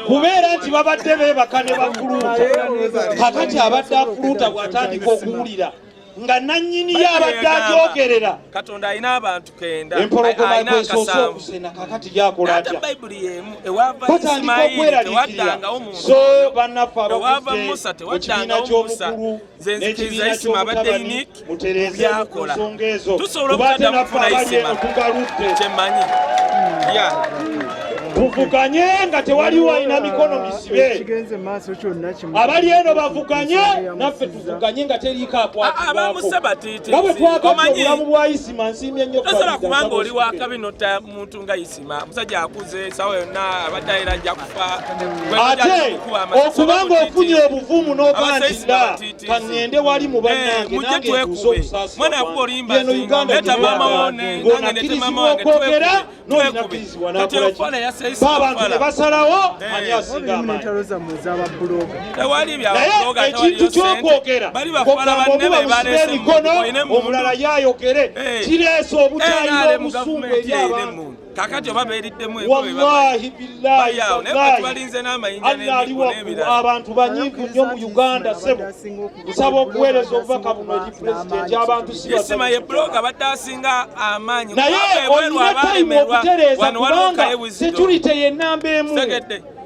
kubeera nti babadde beebaka ne bakuluuta kakati abadde akuluuta bw'atandika okuwulira nga nannyini ye abadde agyogerera katonda alina abantu kenda empologoma kwesoose okusena kakati gyakola atya batandika okweraliikirira so bannaffe abakutte mu kibiina ky'obukulu nze nzikiriza isima abadde unique mu byakola tusobola obutadda mufuna isima kyemmanyi ya tuvuganye nga tewaliwo alina mikono misibe abali eno bavuganye naffe tuvuganye nga teriiko akwatibwakoabamusabatiitiobulamu bwa isima nsiimye nnyo kubanga oli wakabi nota muntu nga isima omusajja akuze sawa yonna abadde ayera ajja kufa ate okubanga ofunye obuvumu n'obantinda kaŋŋende wali mu bannange eh, nange ntuusa obusaasiwabwageno uganda ng'onakkirizibwa okwogera n'olinakkirizibwa nakolaki baabantu ne basalawo eh. ani asinga amaanyi naye ekintu kyokwogera omulala yayogere eh. kireese eh, obutayina obusungu eri abantu kakati oba beriddemu wallahi billahi abantu banyivu nnyo mu uganda sebo nsaba okuweereza obubaka buno eri pulezidenti abantu sisima ye bloga badde asinga amaanyi naye olina tayimu okutereeza kubanga security yenamba emu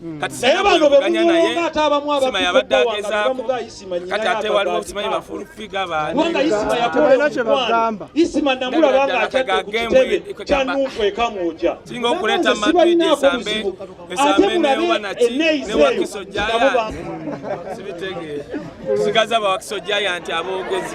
Hmm. kati sinabano bemuganya ate abamu abaabadde agezaako kati ate waliwo simanyi bafulufiga baaniubanga isima yakola omukwano isima namulaba nga akyadde ku kitebe kya nunku ekamuuja singa okuleeta madrid esambe esambe neyoba naki newakiso jaya sibitegeera tusigaza bawakiso jaya nti aboogezi